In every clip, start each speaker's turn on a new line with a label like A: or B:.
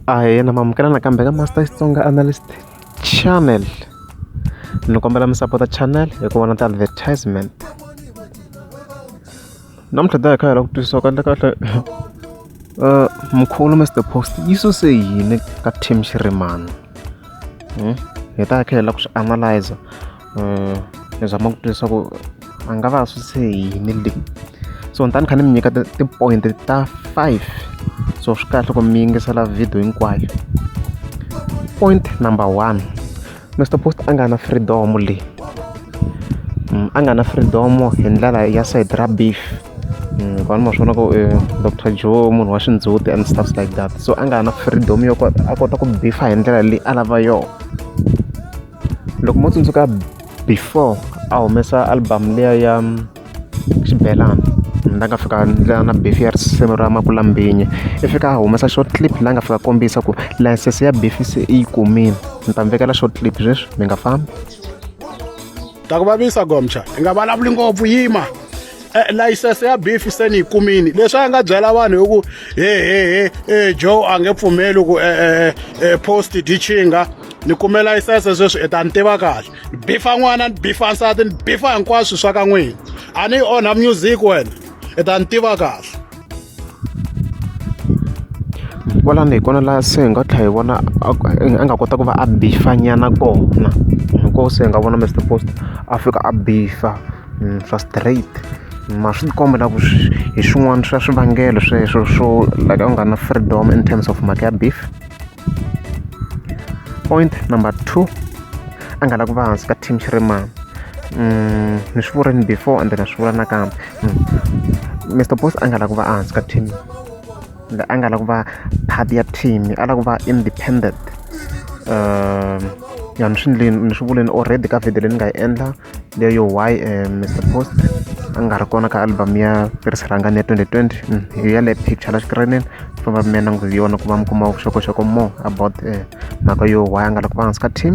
A: ahe na mamukela nakambe ka master xitsonga analyst channel ni kombela mi sapota channel hi ku vona ti-advertisement namuntlha daya kha hi lava ku twisisa ku endla kahle uh, mkhulu mr post yi suse yini ka team xirimana hmm? hi ta kha hi lava ku swi analyzer ni zama ku twa leswaku a nga va a swi se yini le so ni ta ni kha ni mi nyika ti-point ta five so swi kahle ku mi yingisela video hinkwayo point number one mr post a nga na freedom leyi mm, a nga na freedom hi ndlela ya side ra beef mm, vanhu ma swi vona ku eh, dr joe munhu wa xindzhuti and stuff like that so a nga na freedom yo a kota ku bifa hi ndlela leyi a lava yona loko mo tsundzuka before a humesa album liya ya xibelani la nga fika ndlela na beef ya risimu ra makulambinyi i fika a humesa short clip la nga fika kombisa ku license ya beef se i yi kumile ni ta mi vekela short clip sweswi mi nga fambi
B: ta ku vavisa gomcha i nga vulavuli ngopfu yima Eh, layisense ya beef se ni yi kumini leswi a nga byela vanhu hi ku hehehe eh, joe a nge pfumeli ku eh, post dichinga ni kume layisense sweswi i ta ni tiva kahle ni bifa n'wana ni bifa nsati ni bifa hinkwaswo swa ka n'wina a ni yi onha music wena i ta ni tiva kahle
A: Kwalano hi kona laha se hi nga tlhela hi vona a a nga kota ku va a bifa nyana kona hi kona se hi nga vona Mister Post a fika a bifa swa straight mara swi tikomba na ku hi swin'wana swa swivangelo sweswo swo la ka ku nga na freedom in terms of mhaka ya beef point number two a nga lavi ku va hansi ka team Shirimani ni swi vurile before ende na swi vula nakambe. Mister Boss a nga lava ku va ehansi ka team la a nga lava ku va part ya team a lava ku va independent ya ni swi ndleni ni swi vuleni already ka video leyi ni nga yi endla leyo why Mister Boss a nga ri kona ka album ya Piris Rhangani ya 2020 hi yale picture la xikirinini famba mi ya languta yona ku va mi kuma vuxokoxoko more about mhaka yo why a nga lava ku va hansi ka team.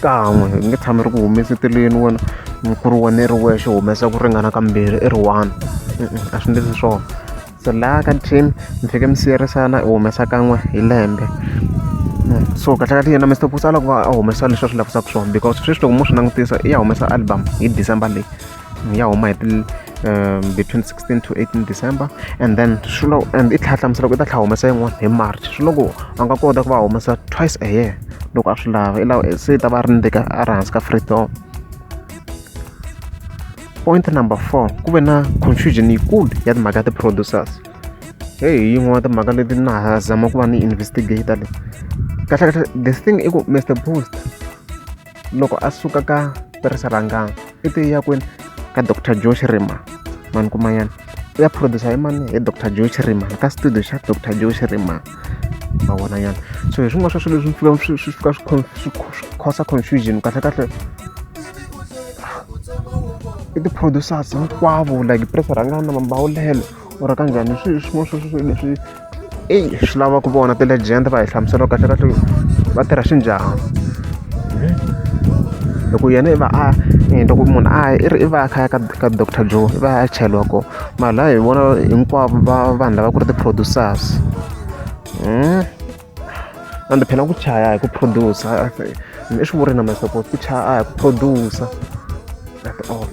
A: kan'we hi nge tshami ri ku humeseteleni wena mukuru wena i ri wexe humesa ku ringana kambirhi i ri one a swi ndlisi swona so laha ka team mi fike mi siyerisana i humesa kan'we hi lembe so kahle kahle yena mr pusa a lava ku va a humesa leswi a swi lavisaka swona because sweswi loko mo swi langutisa i ya humesa album hi december leyi ya huma hi ti between 16 to 18 december and then swi lo and i tlhela hlamusela ku i ta tlhela humesa yin'wana hi march swi loko a nga kota ku va humesa twice a year loko a swi lava i lava se ta va ri ndika a ri hansi ka free door point number four ku ve na confusion yikulu ya timhaka ya ti-producers heyi hi yin'wana ya timhaka leti na ha zama ku va ni investigator le kahlekahle the thing i ku mr boost loko a suka ka tirhisa rhangana i te ya kwini ka dr josh rima mani kuma yana u ya producer hi mani hi dr josh rima ka studio xa dr josh rima ma vona yana so hi swin'wana swa swilo leswi swi fika swi khosa confusion kahlekahle i ti-producers hinkwavo like press rhangana mambawulelo or ka njhani swi swin'wana swa swilo leswi i swi lava ku vona ti-legend va hi hlamusela kahle kahle va tirha swi njhani loko yena i va a loko munhu a i ri i va a kha ya ka ka doctor joe i va a cheliwa kona mara laha hi vona hinkwavo va vanhu lava ku ri ti-producers and phela ku chaya hi ku producer i swi vuri na masoko ku chaya a hi ku producer that's all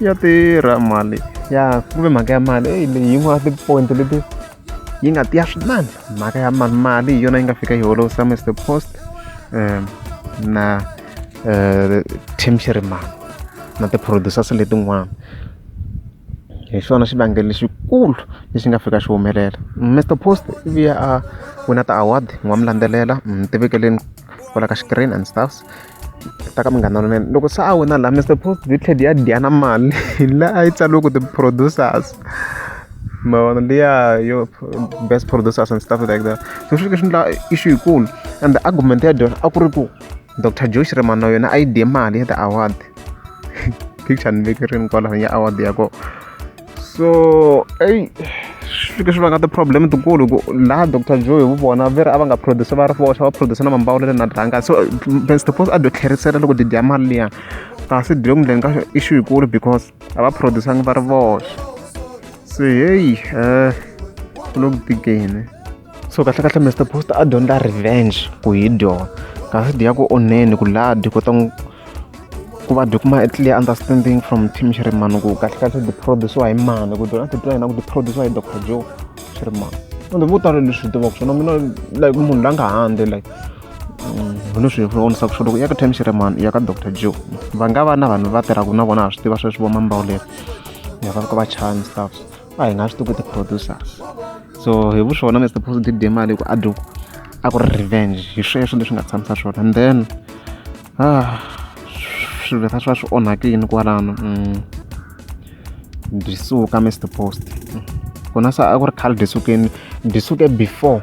A: ya tirha mali ya kumbe mhaka ya mali eyi leyi yin'wana ti-point leti yi nga tiya swinene mhaka ya mali mali hi yona yi nga fika yi holovisa mr post um na um team xiriman na ti-producers letin'wana hi xona xivangelo lexikulu lexi nga fika xi humelela mr post i vuya a wina ti-award ni nga mu landzelela ni mu tivekeleni kwala ka xikirini and stuffs. ta ka munghana lonene loko se a wina laha Mister Post yi tlhela yi ya dya na mali hi laha a yi tsariweke ti-producers ma vona liya yo best producers and stuff like that so swi fike swi endla issue yikulu and argument ya dyona a ku ri ku Doctor Joe Shirimani na yona a yi dye mali ya ti-award picture ni veke rini kwalano ya award ya kona. so eyi swi fike swi vanga ti-problem tikulu ku laha doctor joe hi vu vona ve ri a va nga produce va ri voxa va produce na mambawulo le na dranga so ben stopos a dyo tlherisela loko didya mali liya kasi dyo ku ndleni ka issue yikulu because a va produce-angi va ri voxa so heyi um eh, ku lo ku tikeni so kahlekahle mr post a dyondza revenge ku hi dyona kasi dya ku onheni ku laha dyi kota ku va dyi kuma a clear understanding from team xi ri mani ku kahle kahle ti produce-iwa hi mani ku dyona titwa yena ku ti produce-iwa hi doctor joe xi ri mani ende vo tala leswi hi tivaka swona mina like munhu la nga handle like mm, hi leswi hi vonisaka swona ku ya ka time xi ri mani ya ka doctor joe va nga va na vanhu va tirhaka na vona ha swi tiva sweswi vo mambawuleri ya va ka va chaya ni stuff a hi nga swi tivi ku ti-producer so hi vu swona mr positive de mali ku a dyo a ku ri revenge hi sweswo leswi nga tshamisa swona and then ah swilo leswi swa swi onhakile kwalano mm. disuka mr post kona sa a ku ri khale disukeni disuke before